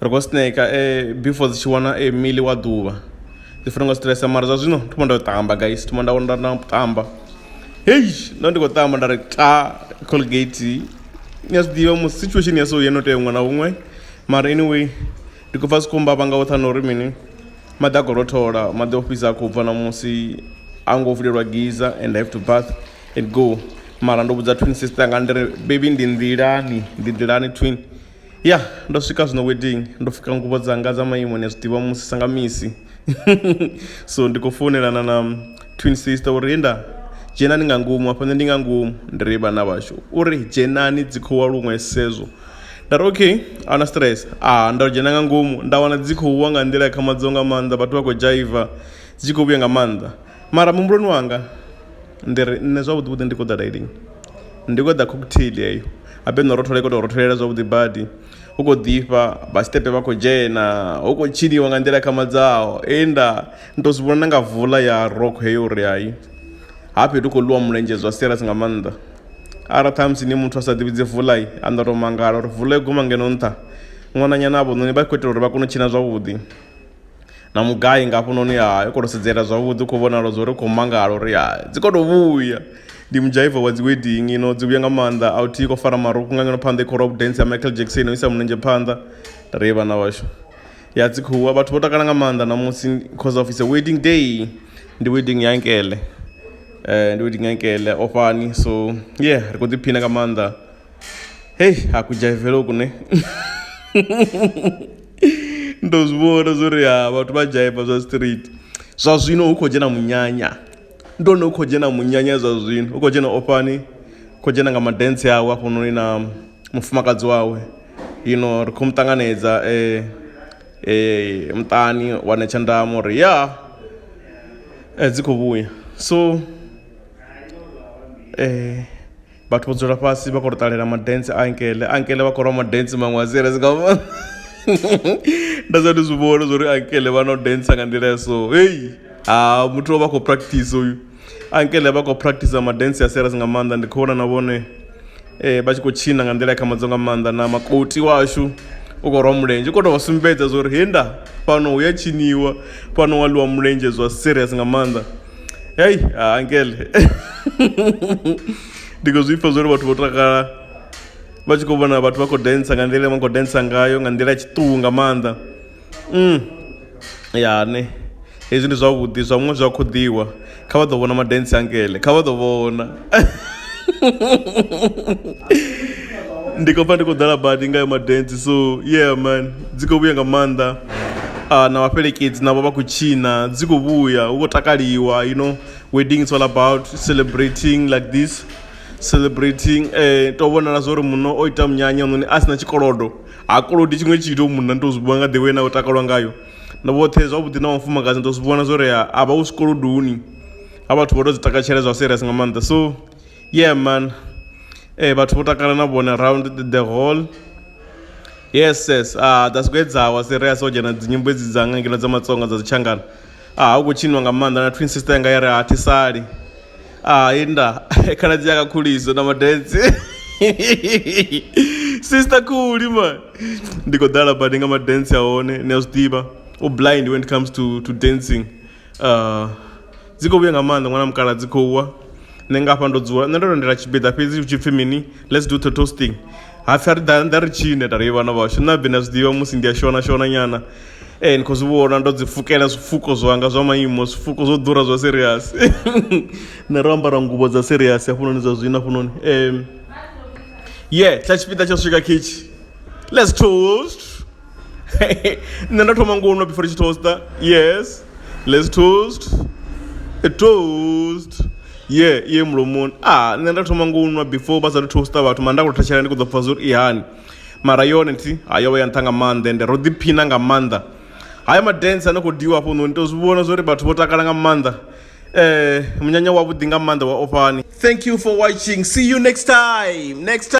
ri khou sneka eh, before dzi tshi wana eh, mili wa ḓuvha ndi funa nga stress mara zwa zwino thoma nda ṱamba guys thoma nda nda nda ṱamba hey ndo ndi khou ṱamba nda ri ta colgate ni a zwi ḓivha mu situation ya so ye no tea huṅwe na huṅwe mara anyway ndi khou pfa sikhomba vha nga u thana uri mini maḓi a khou rothola maḓi o fhisa a khou bva na musi a ngo vulelwa giza and i have to bath and go mara ndo vhudza twin sister nga ndi ri baby ndi nḓilani ndi nḓilani twin ya ndo swika zwino wedding ndo fuka ngubo dzanga dza maimo ni a zwi ḓivha musi sa nga misi so ndi khou founelana na twin sister uri he nda dzhenani nga ngomu hafha nṋe ndi nga ngomu ndi ri vhana vhashu uri dzhenani dzi khou wa luṅwe sezwo nda ri okay ahuna stress a nda dzhena nga ngomu nda wana dzi khou wa nga nḓila ya khamadzo nga maanḓa vhathu vha khou dzhaiva dzi tshi khou vhuya nga maanḓa mara muhumbuloni wanga ndi ri nṋe zwavhuḓi vhuḓi ndi khou ḓa dailini Ndi khou ṱoḓa cocktail heyo habe no rothola i kho to rothelela zwavhuḓi badi hu khou ḓifha vha tshiṱepe vha khou dzhena hu khou tshiniwa nga nḓila khamadzaho he nda ndi to zwi vhona na nga vula ya rokho heyo uri hayi ha fhethu kho ḽiwa mulenzhe zwa serious nga maanḓa. Arali ṱhamusi ni muthu a sa ḓivhi dzi vula anda to mangala uri vula yo guma ngeno nṱha ṅwananyana avho noni vha kho itelwa uri vha kone u tshina zwavhuḓi. na mugai nga hafhanoni ha i khou tou sedzela zwavhuḓi u khou vhonala zwo ri khou mangala uri ha dzi khou tou vhuya ndi mudzhaiva wa dzi wedding ino dzi vhuya nga maanḓa a u thi khou fara marukhu nga ngeno phanḓa i khou rock dance ya Michael Jackson u isa mulenzhe phanḓa ri vhana vhashu ya dzi khuwa vhathu vho takala nga maanḓa ṋamusi cause of it's a wedding day ndi wedding ya nkele ndi wedding ya nkele ofhani so yeah ri khou ḓiphina nga maanḓa. hei hakujaivele uku ne ndo zwi vhona zwori ha vhathu vha dzhaiva zwa street zwa zwino hu khou dzhena munyanya ndo no khou dzhena munyanya zwa zwino hu khou dzhena ofhani khou dzhena nga madentsi awe hafhanoni na mufumakadzi wawe ino ri khou mu ṱanganedza muṱani wa netsha nḓamu uri ya dzi kho vhuya so . Vhathu vho dzula fhasi vha khou tou ṱalela madentsi a ankele ankele vha khou lwa madentsi maṅwe a serious nga maanḓa nda sa ndi zwi vhona zwa uri ankele vha no dentsa nga nḓila ya so heyi ha muthu o vha khou practice uyu ankele vha khou practice madentsi a serious nga maanḓa ndi khou vhona na vhone um vha tshi khou tshina nga nḓila ya khamadzo nga maanḓa na makoti washu u khou rwa mulenzhe u khou tou vha sumbedza zwa uri he nda fhano hu ya tshiniwa fhano wa ḽiwa mulenzhe zwa serious nga maanḓa hei ah, ankele ndi khou zwi pfha zwo ri vhathu vho takala vha tshi khou vhona vhathu vha khou densa nga nḓila vha khou densa ngayo nga nḓila ya tshiṱuhu nga maanḓa mm. ya ne hezwi ndi zwavhuḓi zwa muṅwe zwi a khoḓiwa kha vha ḓo vhona madensi ankele kha vha ḓo vhona ndi khou pfa ndi khou ḓala badi ngayo madance so yeah man dzi khou vhuya nga maanḓa uh, na vhafhelekedzi navho vha khou tshina dzi khou vhuya hu khou takaliwa you know wedding is all about celebrating like this celebrating eh to vhonala zwori muno o ita munyanya noni a sina tshikolodo ha kolodi tshiṅwe tshithu munna ndo zwi nga ḓewe na u takalwa ngayo na vhoṱhe zwavhuḓi na mufumakadzi ndo zwi vhona zwori a vha u zwikolodoni a vhathu vho to dzi takatshela zwa serious nga maanḓa so yeah man eh vhathu vho takala na vhone around the, the hall yes yes ah that's great dzawa serious o dzhena dzi nyimbo dzi dzanga ngeno dza matsonga dza dzitshangana ah hu khou tshinwa nga maanḓa na twin sister yanga ya ri ha thisali ah inda khala dzi yaka khuliso na madensi sister khuli man ndi khou ḓala badi nga madensi a hone ni a zwi ḓivha u blind when it comes to to dancing Uh, dzi khou vhuya nga maanḓa ṅwana mukala dzi khou wa nṋe nga hafha ndo dzula nṋe ndo lindela tshipiḓa fhedzi hu tshi pfhi mini let's do toasting ha pfhi a ri ḓa ri tshine nda ri vhana vhashu nṋe abe na zwi ḓivha musi ndi a shona shona nyana ee ni khou zwi vhona ndo dzi pfukela zwifuko zwanga zwa maimo zwifuko zwo ḓura zwa serious nṋe ro ambara ngubo dza serious hafhunoni zwa zwino hafhunoni um ye tsha tshipiḓa tsha swika khitshi let's toast nṋe nda thoma ngo nwa before ndi tshi toaster yes lets toast a toast ye iye mulomoni a nṋe nda thoma ngo nwa before vha sathu toaster vhathu mara nda kho thetshelesa ndi kho ḓo pfha zwa uri i hani mara yone thi ha yo vha ya nṱha nga maanḓa ende ro ḓiphina nga maanḓa haya ma dance ane kho ḓivhiwa hafho noni to zwi vhona zwori vhathu vho takala nga maanḓa munyanya wa vhuḓi nga maanḓa wa ofhani thank you for watching see you next time next time.